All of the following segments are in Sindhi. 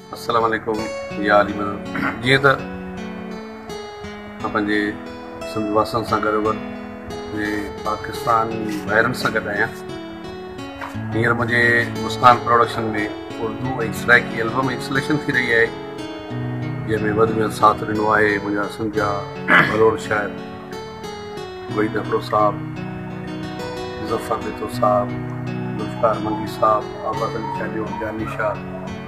السلام عليڪم يا علي مدد جيئن ته اسان پنهنجي سنڌ واسن سان گڏ وڏ جي پاڪستان ڀائرن سان گڏ آهيان هينئر منهنجي مسڪان پروڊڪشن ۾ اردو ۽ سرائيڪي البم انسليشن ٿي رهي آهي جنهن ۾ وڌ ۾ ساٿ ڏنو آهي منهنجا سنڌ جا ڀلوڙ شاعر وحيد اڪڙو صاحب مظفر بيتو صاحب ذوالفقار منگي صاحب آباد علي چانڊيو جاني شاهه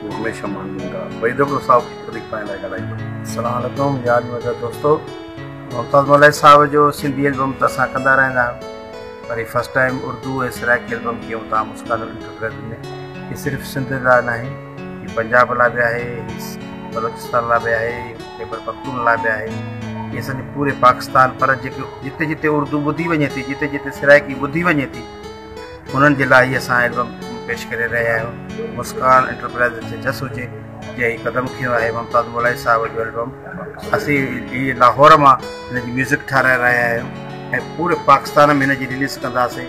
تون هميشه ماندين رهه وحيد ابڙو صاحب وڌيڪ پنهنجي لاء ڳالهائي پيو. السلام عليڪم جان مزه دوستو ممتاز ملائي صاحب جو سنڌي البم ته اسان ڪندا رهندا آهيون پر هي first time Urdu ۽ Saraiki album ڪيون تان مسڪان الٽر ڊرگ ۾ هي صرف سنڌ لاء ناهي هي پنجاب لاء به آهي هي بلوچستان لاء به آهي خيبر پختون لاء به آهي هي سڄي پوري پاڪستان پر جيڪي جتي جتي اردو ٻڌي وڃي ٿي جتي جتي سرائيڪي ٻڌي وڃي ٿي انهن جي لاء هي اسان البم پيش ڪري رهيا آهيون مسڪان انٽرپرائيز جي جس هجي جي هي قدم کيو آهي ممتاز مولائي صاحب جو البم اسين هي لاهور مان هن جي ميوزڪ ٺاهرائي رهيا آهيون ۽ پوري پاڪستان ۾ هن جي رليز ڪنداسين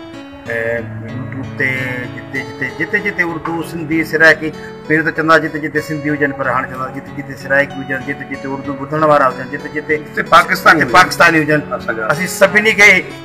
يوٽيوب تي جتي جتي جتي جتي اردو سنڌي سرائيڪي پهريون ته چوندا جتي جتي سنڌي هجن پر هاڻي چوندا جتي جتي سرائيڪي هجن جتي جتي اردو ٻڌڻ وارا هجن جتي جتي پاڪستاني پاڪستاني هجن اسين سڀني کي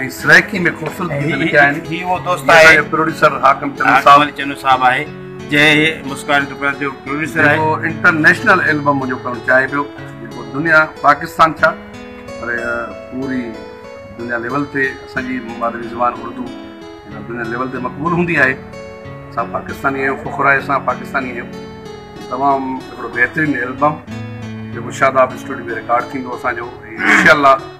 ۽ سرائيڪي ۾ خوبصورت گيت لکيا آهن هي اهو دوست آهي جنهن جو پروڊيوسر حاڪم چنو صاحب حاڪم چنو صاحب آهي جنهن مسڪان انٽرپرائيز جو پروڊيوسر آهي جيڪو انٽرنيشنل البم منهنجو ڪرڻ چاهي پيو جيڪو دنيا پاڪستان ڇا پر پوري دنيا ليول تي اسان جي مادري زبان اردو دنيا ليول تي مقبول هوندي آهي اسان پاڪستاني آهيون فخر آهي اسان پاڪستاني آهيون تمام هڪڙو بهترين البم جيڪو شاداب اسٽوڊيو ۾ رڪارڊ ٿيندو اسان جو انشاء الله